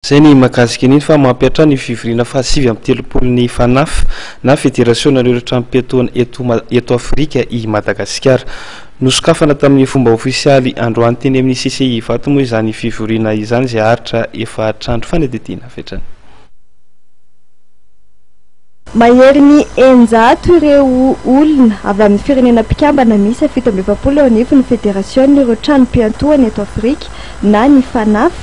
Izay ny mahakasika an'iny fa mampiantra ny fivoriana fahasivy amby telopolo ny Fanaf na Federasionan'ireo Tranom-piatoana eto eto Afrika i Madagasikara. Nosokafana tamin'ny fomba ofisialy androany teny amin'ny CCI Ivato moa izany fivoriana izany izay haharitra efatr'andro fanadihadiana avy hatrany. Maherin'ny eninjato ireo olona avy amin'ny firenena mpikambana miisa fito amby efapolo eo anivon'ny Federasionan'ireo Tranom-piantohana eto Afrika na ny FANAF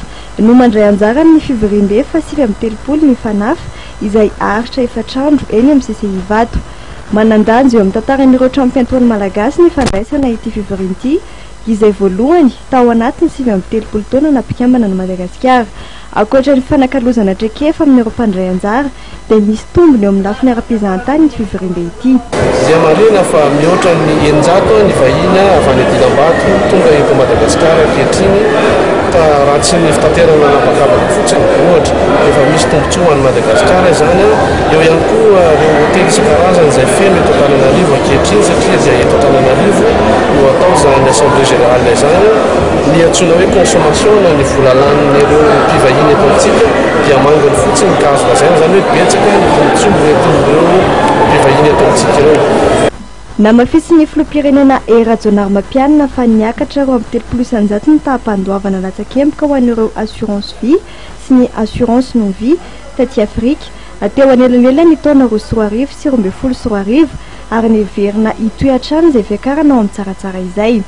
no mandray anjara amin'ny fivoriambe fahasivy amby telopolo ny FANAF izay aharitra efatr'andro eny amin'ny CCI Ivato. Manan-danja eo amin'ny tantaran'ireo tranom-piantohana malagasy ny fandraisana ity fivoriana ity izay voalohany tao anatin'ny sivy amby telopolo taona naha-mpikambana an'i Madagasikara. Ankoatra ny fifanakalozana traikefa amin'ireo mpandray anjara dia misy tombony eo amin'ny lafiny ara-pizahantany ity fivoriambe ity. Dia marihina fa mihoatra ny eninjato ny vahiny avy any Dilambato tonga eto Madagasikara ankehitriny ka raha tsy ny fitaterana an'habakabaka fotsiny, ohatra, dia efa misy tombontsoa ho an'i Madagasikara izany. Eo ihany koa ireo hotely isan-karazany izay feno eto Antananarivo ankehitriny satria dia eto Antananarivo no atao izany Assemblée Générale izany. Ny antsoina hoe consommation na ny vola lanin'ireo mpivahiny eto amintsika. dia manginy fotsiny ka azo lazaina izany hoe betsaka ny tombontsoa hoentin'ireo mpivahiny eto amintsika ireo. Namafisin'ny filoham-pirenena Hery Rajaonarimampianina fa niakatra roa amby telopolo isanjato ny taham-pandoavana latsakemboka ho an'ireo Assurance Vie sy ny Assurance Non Vie taty Afrika teo anelanelan'ny taona roa sy roa arivo sy roa ambin'ny folo sy roa arivo ary neverina hitohy hatrany izay fiakarana ao amin'ny tsaratsara izay.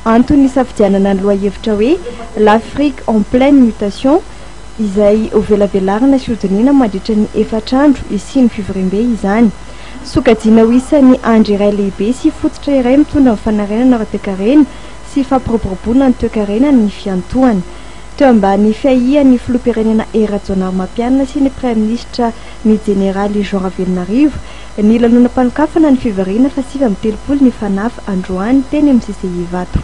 Antony nisafidianana ny lohahevitra hoe L'Afrique en pleine mutation, izay hovelavelarina sy hodinihina mandritra ny efatra andro hisian'ny fivoriambe izany. Sokajiana ho isan'ny andry iray lehibe sy fototra iray mitondra ny fanarenana ara-toekarena sy fampiroboroboana ny toekarena ny fiantohana. Teo ambany fiahian'ny Filoham-pirenena Hery Rajaonarimampianina sy ny Praiminisitra ny Jeneraly Jean Ravelonarivo ny lanonam-panokafana ny fivoriana fahasivy amby telopolo ny FANAF androany teny amin'ny CCI Ivato.